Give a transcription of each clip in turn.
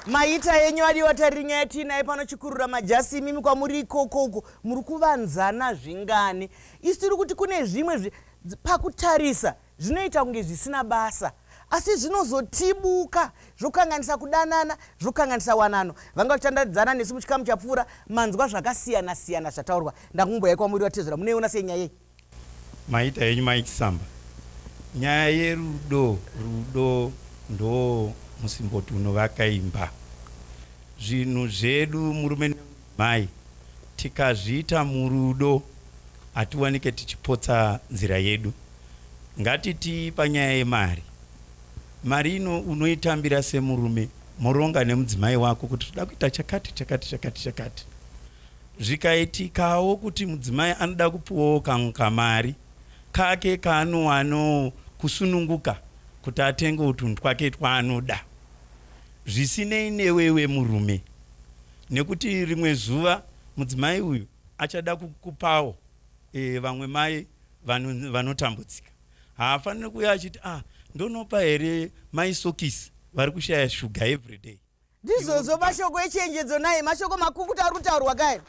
maita yenyu adiwa tariringa yatiinaye pano chikurura majasi imimi kwamuri ikoko uko muri kuvanzana zvingani isu tiri kuti kune zvimwe pakutarisa Zvinoita kunge zvisina basa asi zvinozotibuka zvokanganisa kudanana, zvokanganisa wanano. Vanga vachitandaridzana nesu muchikamu chapfuura, manzwa zvakasiyana siyana zvataurwa. Ndakumboyai kwamuri vatezvera, munoiona sei nyaya iyi? Maita henyu mai Chisamba, nyaya yerudo, rudo ndoo musimboti unovaka imba. Zvinhu zvedu murume nemudzimai tikazviita murudo hatiwanike tichipotsa nzira yedu. Ngatiti panyaya yemari. Mari ino unoitambira semurume moronga nemudzimai wako kuti toda kuita chakati chakati chakati chakati. Zvikaitikawo kuti mudzimai anoda kupuwawo kamwe kamari kake kaanowanawo kusununguka kuti atengewo tunhu twake twaanoda zvisinei newewe murume nekuti rimwe zuva mudzimai uyu achada kukupawo e, vamwe mai vanhu vanotambudzika haafanire kuuya achiti ah ndonopa here maisokisi vari kushaya shuga every day ndizvozvo mashoko echenjedzo naye mashoko makukuta ari kutaurwa kae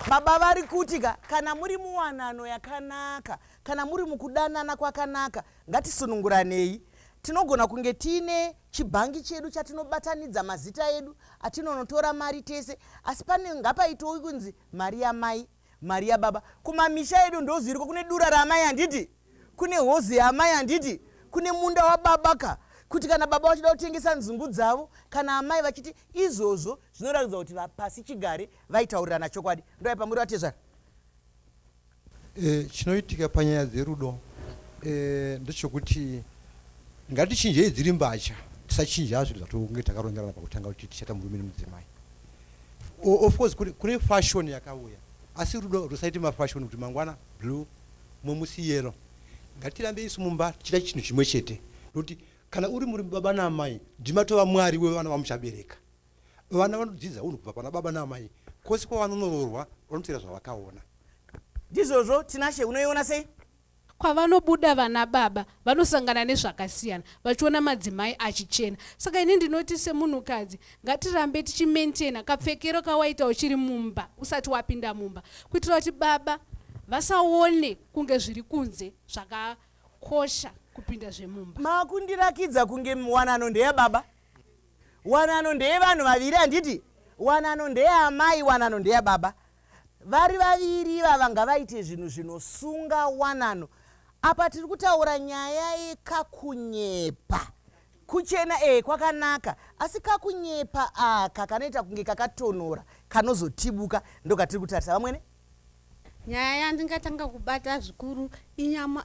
baba vari kuti ka kana muri muwanano yakanaka kana muri mukudanana kwakanaka ngatisununguranei tinogona kunge tiine chibhangi chedu chatinobatanidza mazita edu atinonotora mari tese asi pane ngapaitowi kunzi mari yamai mari yababa kumamisha edu ndozviriko kune dura raamai handiti kune hozi yaamai handiti kune munda wababa ka kuti kana baba vachida kutengesa nzungu dzavo kana amai vachiti izvozvo zvinoratidza kuti vapasi chigare vaitaurirana chokwadi ndoaipa muri vatezvara e, chinoitika panyaya dzerudo e, ndechokuti ngatichinjei dziri mbacha tisachinja zvinhu zvatonge takarongerana pakutanga kuti tichaita murume nemudzimai Of course kune fashion yakauya asi rudo rusaite mafashion kuti mangwana blue momusi yero ngatirambe isu mumba tichita chinhu chimwe chete nokuti kana uri muri baba naamai ndimatova mwari wevana vamuchabereka vana vanodzidza unhu kubva pana baba naamai kwose kwavanonororwa vanotera zvavakaona ndizvozvo tinashe unoiona sei Kwavanobuda vana baba vanosangana nezvakasiyana vachiona madzimai achichena. Saka ini ndinoti semunhukadzi ngatirambe tichi maintainer kapfekero kawaita uchiri mumba usati wapinda mumba kuitira kuti baba vasaone kunge zviri kunze zvakakosha kupinda zvemumba. Makundirakidza kunge wanano ndeyababa. Wanano ndeye vanhu vaviri handiti? Wanano ndeye amai, wanano ndeye baba. Vari vaviri ivava ngavaite zvinhu zvinosunga wanano. Apa tiri kutaura nyaya yekakunyepa. Kuchena eh kwakanaka asi kakunyepa aka kanoita kunge kakatonhora kanozotibuka ndokatiri kutarisa vamwene. nyaya yandingatanga kubata zvikuru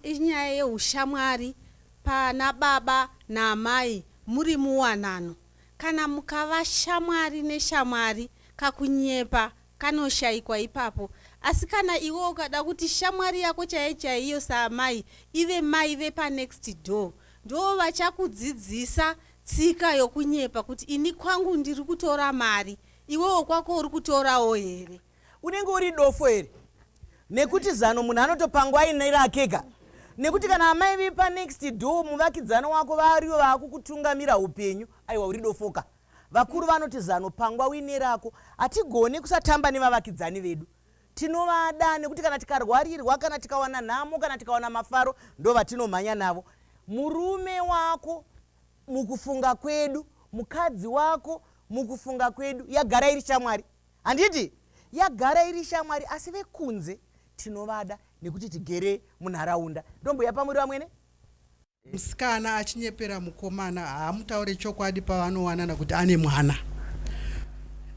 inyaya yeushamwari pana baba naamai muri muwanano kana mukava shamwari neshamwari kakunyepa kanoshayikwa ipapo asi kana iwe ukada kuti shamwari yako chaiye chaiyo saamai ive mai vepanext door ndoo vachakudzidzisa tsika yokunyepa kuti ini kwangu ndiri kutora mari iwewo kwako uri kutorawo here Unenge uri dofo here? Nekuti zano munhu anotopangwa aine rakega. Nekuti kana amai vepa next door muvakidzani wako variyo vakukutungamira upenyu aiwa uri dofoka. Vakuru vanoti zano pangwa uine rako. Hatigone kusatamba nevavakidzani vedu. Tinovada nekuti kana tikarwarirwa kana tikawana nhamo kana tikawana mafaro ndovatinomhanya navo. Murume wako mukufunga kwedu, mukadzi wako mukufunga kwedu yagara iri shamwari. Handiti? Yagara iri shamwari asi vekunze tinovada nekuti tigere munharaunda. Ndombuya pamuri vamwene? Msikana achinyepera mukomana haamutaure chokwadi pavanowanana kuti ane mwana.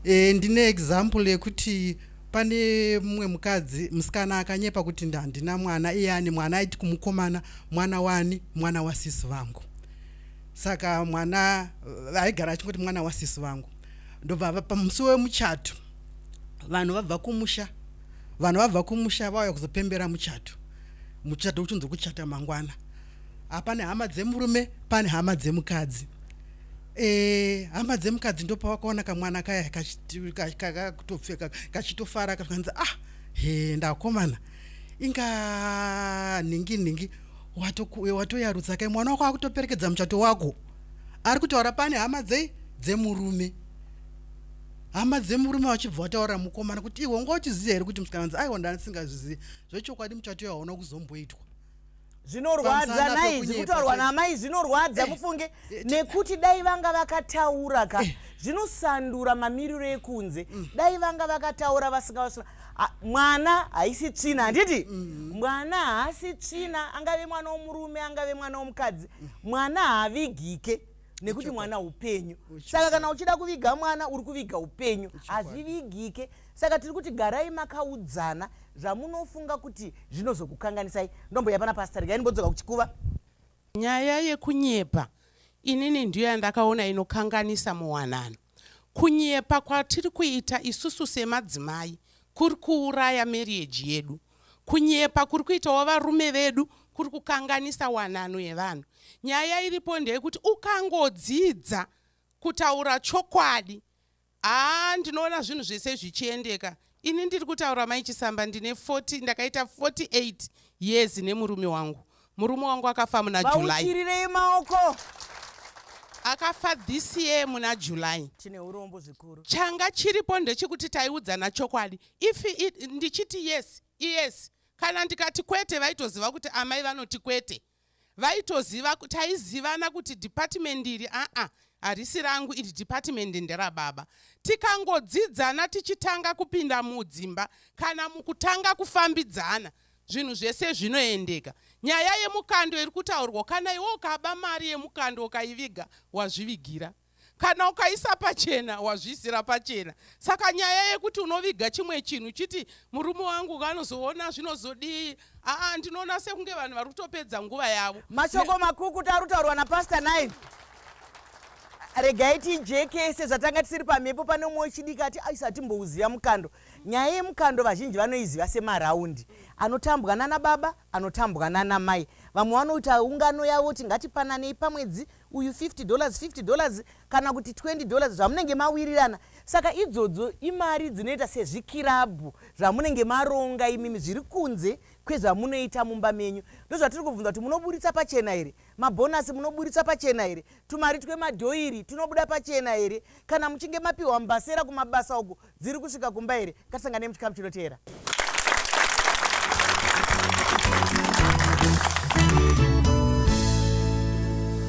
E, ndine example yekuti pane mumwe mukadzi musikana akanyepa kuti ndandina mwana iye ane mwana aiti kumukomana mwana wani mwana wasisi vangu saka mwana eh, aigara achingoti mwana wasisi vangu ndobva pamusi wemuchato vanhu vabva kumusha vanhu vabva kumusha vauya kuzopembera muchato muchato uchinzi kuchata mangwana hapane hama dzemurume pane hama dzemukadzi e, hama dzemukadzi ndopawakaona kamwana kaya kakutopfeka kachitofara kakanzi ah he ndakomana inga nhingi nhingi watoyarutsa kai mwana wako akutoperekedza muchato wako ari kutaura pane hama dzei dzemurume hama dzemurume vachibva vataurira mukomana kuti iwe unga uchiziva here kuti musikana nzi aiwa ndasingazvizivi zvechokwadi muchato yaona kuzomboitwa zvinorwadza nai zviri kutaurwa naamai zvinorwadza eh, mufunge eh, eh, nekuti dai vanga vakataura ka zvinosandura mamiriro ekunze mm. dai vanga vakataura vasingavasura mwana haisi tsvina handiti mm-hmm. mwana haasi tsvina angave mwana womurume angave mwana womukadzi mwana haavigike nekuti mwana upenyu saka kana uchida kuviga mwana uri kuviga upenyu hazvivigike saka tiri kuti garai makaudzana zvamunofunga kuti zvinozokukanganisai ndomboya pana pasta regai ndimbodzoka kuchikuva nyaya yekunyepa inini ndiyo yandakaona inokanganisa muwanano Kunyepa kwatiri kuita isusu semadzimai kuri kuuraya marriage yedu. Kunyepa kuri kuitawo varume vedu kuri kukanganisa wanano yevanhu. Nyaya iripo ndeyekuti ukangodzidza kutaura chokwadi, haa ndinoona zvinhu zvese zvichiendeka Ini ndiri kutaura mai Chisamba ndine 40 ndakaita 48 years nemurume wangu. Murume wangu akafa muna July. Vauchirirei maoko. Akafa this year muna July. Chine urombo zvikuru. Changa chiripo ndechekuti taiudzana chokwadi. If it, ndichiti yes, yes. Kana ndikati kwete vaitoziva kuti amai vanoti kwete. vaitoziva taizivana kuti department iri aa harisi rangu iri department nderababa tikangodzidzana tichitanga kupinda mudzimba kana mukutanga kufambidzana zvinhu zvese zvinoendeka nyaya yemukando iri kutaurwa kana iwe ukaba mari yemukando ukaiviga wazvivigira kana ukaisa pachena wazviisira pachena saka nyaya yekuti unoviga chimwe chinhu chiti murume wangu anozoona zvinozodii aa ndinoona sekunge vanhu vari kutopedza nguva yavo mashoko makukuta ari kutaurwa napastor nine regai tijeke sezvatanga tisiri pamhepo pane umwe wechidiki ati aisa hatimbouziva mukando nyaya yemukando vazhinji vanoiziva semaraundi anotambwa nana baba anotambwa nana mai vamwe vanoita ungano yavo tingatipananei pamwedzi uyu 50 dollars 50 dollars kana kuti 20 dollars zvamunenge mawirirana saka idzodzo imari dzinoita sezvikirabhu zvamunenge maronga imimi zviri kunze kwezvamunoita mumba menyu ndozvatiri kubvunza kuti munoburitsa pachena here mabhonasi munoburitsa pachena here tumari twemadhoiri tunobuda pachena here kana muchinge mapiwa mbasera kumabasa uku dziri kusvika kumba here katisangane muchikamu chinoteera